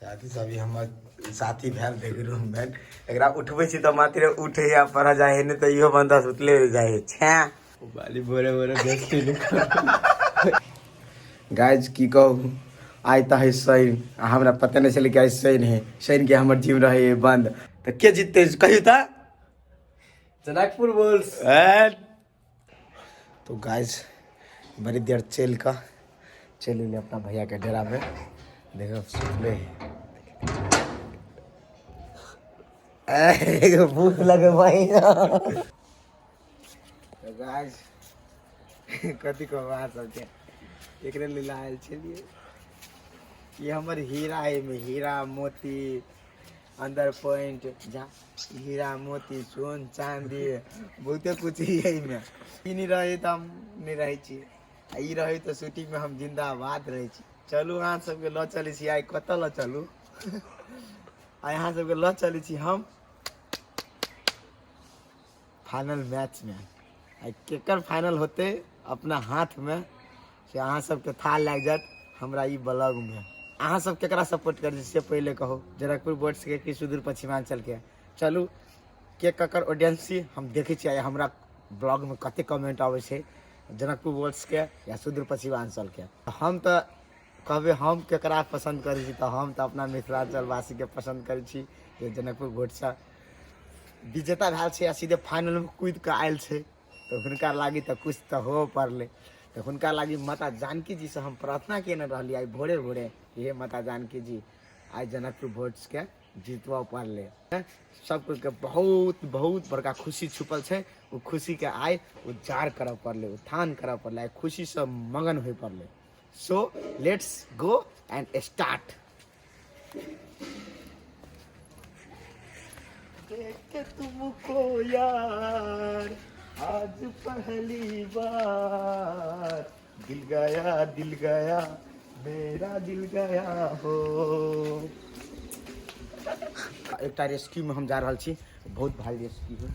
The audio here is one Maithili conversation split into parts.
साथी सब ई हमर साथी भेल बेगरूम भेल एकरा उठबै छी तऽ मात्र उठे या पढ़ जाए है नहि तऽ इहो बंदा सुतले रह जाए छै बाली बोरे बोरे बेचते गाइज की कहू आइ तऽ है शनि आ हमरा पता नहि छलै कि आइ शनि है शनि के हमर जिम रहै है बंद तऽ के जीतते कहियो तऽ जनकपुर बोल्स ए तो गाइस बड़ी देर चल का चल एलियै अपना भैया के डेरा में देखो सुतले एगो भूख लगे भाई तो गाइस कथी को बात सब छै एकरे लिए आयल छलिए ये हमर हीरा है में हीरा मोती अंदर पॉइंट जा हीरा मोती सोन चांदी बहुते कुछ ही है में ई नहीं रहे तो हम नहीं रहे छी आ ई रहे तो शूटिंग में हम जिंदाबाद रहे छी चलू अहाँ सबके लऽ चलै छी आइ कतऽ लऽ चलू आ अहाँ सबके लऽ चलै छी हम फाइनल मैच में आ केकर फाइनल होते अपना हाथ में से अहाँ सबके था लग जात हमरा ई ब्लॉग में अहाँ सब केकरा सपोर्ट कर से पहले कहो जनकपुर बोर्ड से कि सुदूर पश्चिमांचल के चलू के ककर ऑडियंस छी हम देखै छी आइ हमरा ब्लॉग में कते कमेंट आबै छै जनकपुर बोर्ड्स के या सुदूर पश्चिमांचल के हम तऽ कहबै हम केकरा पसन्द करै छी तऽ हम तऽ अपना मिथिलांचल वासी के पसन्द करै छी जे जनकपुर बोर्ड से विजेता भेल छै आ सीधे फाइनलमे कुदि कऽ आयल छै तऽ हुनका लागी तऽ किछु तऽ हो पड़लै तऽ हुनका लागी माता जानकी जी से हम प्रार्थना केने रहलियै आइ भोरे भोरे कि हे माता जानकी जी आइ जनकपुर भोजके जीतबऽ पड़लै हैं? सब कोइके बहुत बहुत बड़का खुशी छुपल छै ओ खुशीके आइ उजाड़ करऽ पड़लै उत्थान करऽ पड़लै आइ खुशीसँ मगन होय पड़लै so let's go and start देख के तुमको यार आज पहली बार दिल गया दिल गया मेरा दिल गया हो एकटा रेस्क्यूमे हम जा रहल छी बहुत भारी रेस्क्यू है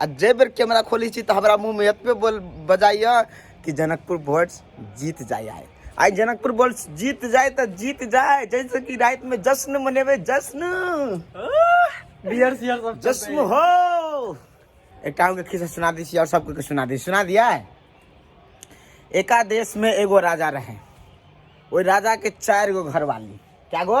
आ जाहि बेर कैमरा खोलै छी तऽ हमरा मुँहमे एतबे बोल बजाइए कि जनकपुर बोर्ड्स जीत जाइ आइ आइ जनकपुर बोर्ड्स जीत जाए तऽ जीत जाए जैसे कि रातिमे जश्न मनेबै जश्न बियर सियर सब जश्न हो एकटा हमके खिस्सा सुना दी छी और सबके के सुना दी सुना दिया है एका देश में एगो राजा रहे ओहि राजा के चार गो घरवाली क्या गो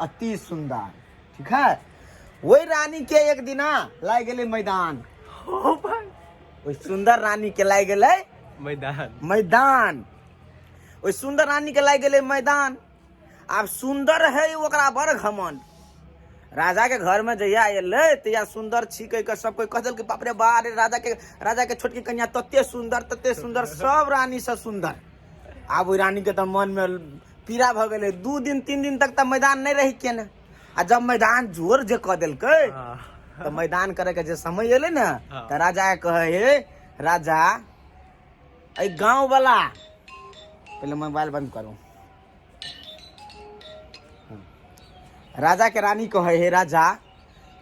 अति सुंदर ठीक है वही रानी के एक दिना लाग गेले मैदान ओ भाई वही सुंदर रानी के लाग गेले मैदान मैदान वही सुंदर रानी के लाग गेले मैदान आब सुंदर है ओकरा बड़ घमंड राजा के घर में जहिया अयलै तहिया सुंदर छी कहि कऽ सब कोइ कह देलकै बाप रे बा रे राजा के राजा के छोटकी कन्या तते सुंदर तते सुंदर सब रानी सब सुंदर आब ओहि रानी के तऽ मन में पीड़ा भऽ गेलै दू दिन तीन दिन तक तऽ मैदान नहि रहि के ने आ जब मैदान जोर जे कऽ देलकै हाँ, तऽ मैदान करे के जे समय एलै ने हाँ। तऽ राजा के कहे हे राजा एहि गांव वाला पहिले मोबाइल बंद करू हम्म। राजा के रानी कहे हे राजा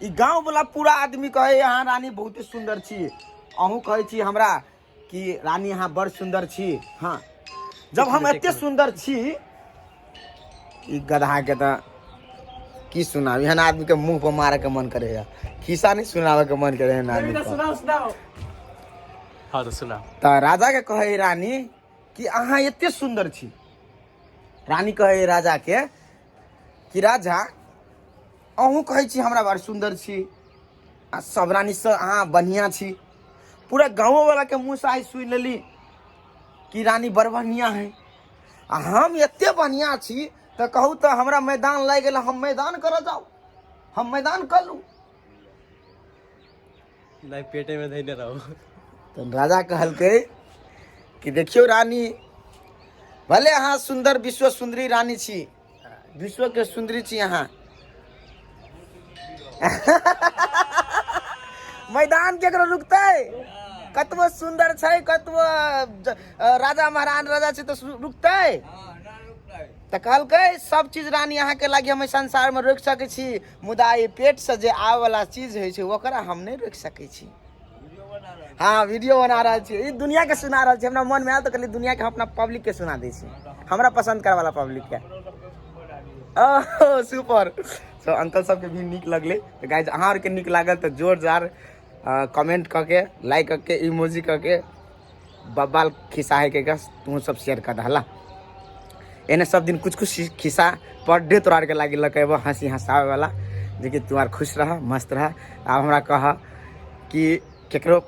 ई गांव वाला पूरा आदमी कहे हे अहाँ रानी बहुते सुंदर छी अहूँ कहे छी हमरा कि रानी अहाँ बड़ सुन्दर छी हँ जब हम एते सुन्दर छी ई गधाके तऽ की सुनाब एहन आदमीके मुँह पर मारैके मन करे है खिस्सा नहि सुनाबैके मन करे है एहन आदमी सुनाओ सुनाओ हाँ तो सुना तऽ राजाके कहै है रानी कि अहाँ एते सुन्दर छी रानी कहै है राजाके कि राजा अहूँ कहै छी हमरा बड़ सुन्दर छी आ सब रानी से अहाँ बढ़िया छी पूरा गाँव वाला के मुँह से आइ सुनि लेली कि रानी बड़ बढ़िया है आ हम एते बढ़िया छी तऽ कहू तऽ हमरा मैदान लागि गेल हम मैदान करऽ जाउ हम मैदान कर लू नहीं पेटे में धैले रहो तऽ राजा कहलकै कि देखियौ रानी भले अहाँ सुन्दर विश्व सुन्दरी रानी छी विश्व के सुंदरी छी यहाँ मैदान केकरो रुकते कतबो सुंदर छै कतबो ज- राजा महाराज राजा छै तऽ सु- रुकते तऽ कहलकै सब चीज रानी अहाँके लागि हम एहि संसारमे रोकि सकै छी मुदा ई पेटसँ जे आबयवला चीज होइ छै ओकरा हम नहि रोकि सकै छी हाँ वीडियो बना रहा छे ई दुनिया के सुना रहा छे हमरा मन में आयल तो कहलिए दुनिया के हम अपना पब्लिक के सुना दै छी हमरा पसंद करे वाला पब्लिक के ओह सुपर सो अंकल सब के भी निक लगले तो गाइज अहाँ आर के निक लागल तो जोर जार कमेंट क के लाइक क के इमोजी क के बब्बाल खिस्सा है के गस तू सब शेयर कर दहला एने सब दिन कुछ कुछ खिस्सा पर डे तोरा आरके लागि लके एगो हँसी हँसावे वाला जेकि तू आर खुश रह मस्त रह आब हमरा कह कि केकरो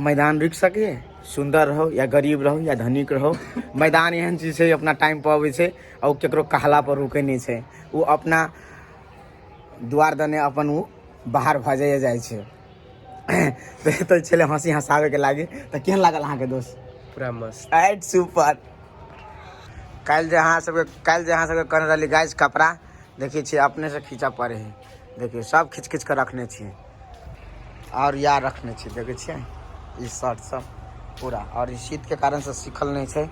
मैदान रुकि सके सुंदर रहो या गरीब रहो या धनिक रहो मैदान एहन चीज छै अपना टाइम पर अबै छै आ ओ केकरो कहला पर रुकै नहि छै ओ अपना द्वार दने अपन ओ बाहर भऽ जाइए जाइ छै बेहतर छले हंसी हंसावे के लागे तो केहन लागल अहाँ के दोस्त पूरा मस्त एट सुपर कल जे अहाँ सबके कल जे अहाँ सबके कहने रहली गाइस कपड़ा देखिए छी अपने से खींचा पड़े है देखिए सब खींच खींच के रखने छी और यार रखने छी देखे छियै ई शर्ट सब पूरा और ई शीत के कारण से सीखल नहीं छै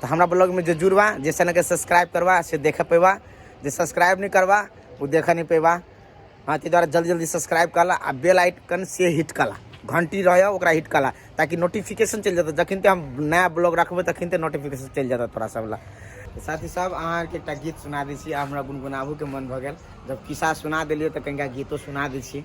तो हमारा ब्लॉग में जो जुड़वा जिस चैनल के सब्सक्राइब करवा से देख पेवा जो सब्सक्राइब नहीं करवा वो देख नहीं पेवा हाँ तो द्वारा जल्दी जल्दी सब्सक्राइब कला आ बेल आइकन से हिट कला घंटी रहे ओकरा हिट कला ताकि नोटिफिकेशन चल जाता जखन हम नया ब्लॉग रखबे तखन नोटिफिकेशन चल जाता तोरा सब ला साथी सब अहाँ के एक गीत सुना दी छी हमरा गुनगुनाबू के मन भगल जब किस्सा सुना दिलिए तो कहीं गीतो सुना दी छी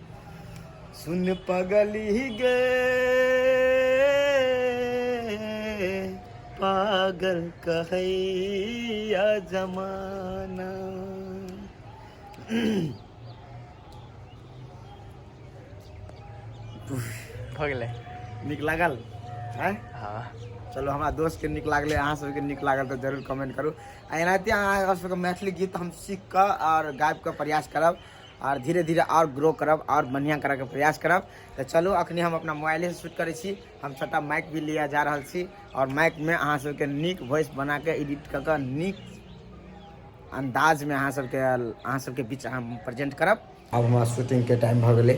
सुन पगली गे पागल कहैया जमाना भऽ गेलै नीक लागल आँय हँ चलो हमरा दोस्तके नीक लागलै अहाँ सबके नीक लागल तऽ जरूर कमेंट करू आ एनाहिते अहाँ सबके मैथिली गीत हम सीख कऽ आओर गाबि कऽ प्रयास करब आर धीरे धीरे आर ग्रो करब आर बढ़िया करऽ के प्रयास करब तऽ चलू अखनी हम अपना मोबाइले से शूट करै छी हम छोटा माइक भी लिया जा रहल छी और माइक में अहाँ सबके नीक वॉइस बना के एडिट कऽ के नीक अंदाज में अहाँ सबके अहाँ सबके बीच हम प्रेजेंट करब अब हमारा शूटिंग के टाइम भऽ गेलै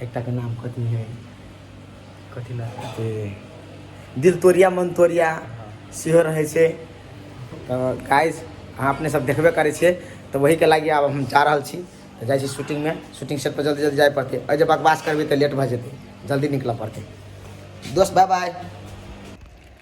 एकटा के नाम कथी है कथी ना दिल तोरिया मन तोरिया सेहो रहै छै तऽ गाइस अहाँ अपने सब देखबे करै छियै तऽ वहीके लागि आब हम जा रहल छी तऽ जाइ छी शूटिंगमे शूटिंग सेट पर जल्दी जल्दी जाय पड़तै एहि जे बकवास करबै तऽ लेट भऽ जेतै जल्दी निकलऽ पड़तै दोस्त बाय बाय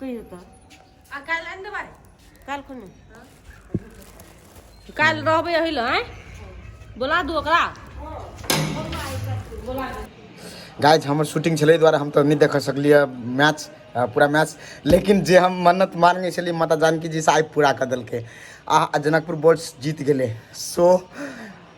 कहियो तऽ आ काल्हि आनि देबै काल्हि खुने काल्हि रहबै एहि लए आँय बोला दू ओकरा गाइज हमर शूटिंग छलै एहि दुआरे हम तऽ नहि देख सकलियै मैच अ, पूरा मैच लेकिन जे हम मन्नत मांगने छलियै माता जानकी जी से आइ पूरा कऽ देलकै आ आ जनकपुर बोर्ड्स जीत गेलै सो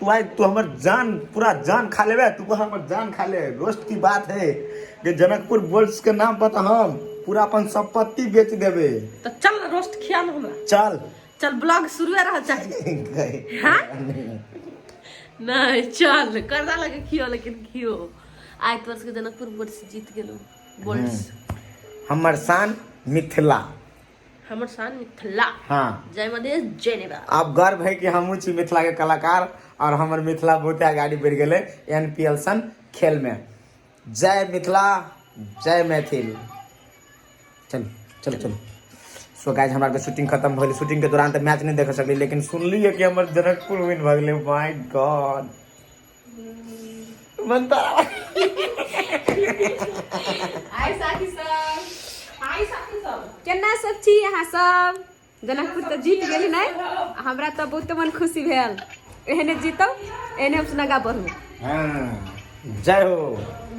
तू आए तू हमर जान पूरा जान खा लेबे तू कह हमर जान खा ले रोस्ट की बात है कि जनकपुर बोल्स के नाम पर तो हम पूरा अपन संपत्ति बेच देबे तो चल ना रोस्ट खिया ना हमरा चल चल ब्लॉग शुरू रह चाहे गए। हाँ? नहीं चल करदा लगे खियो लेकिन खियो आइ तोर सबके जनकपुर बोर्ड से जीत गेलो बोर्ड से। हमर शान मिथिला हमर शान मिथिला हाँ जय मधेश जय नेपाल आप गर्व है कि हमहूँ छी मिथिला के कलाकार और हमर मिथिला बहुते आगाड़ी बढ़ि गेलै एन पी एल सन खेल में जय मिथिला जय मैथिल चल चल चल सो गाइज हमरा के शूटिंग खत्म भइल शूटिंग के दौरान तऽ मैच नहि देख सकली लेकिन सुनलियै कि हमर जनकपुर विन भऽ गेलै माय गॉड म्हणता हाय साथी सब हाय साथी सब केना सब छी अहाँ सब जनकपुर तऽ जीत गेली नहि हमरा तऽ बहुते मन खुशी भेल एहने जीतब एहने हम सुनगा बढ़ू हाँ जय हो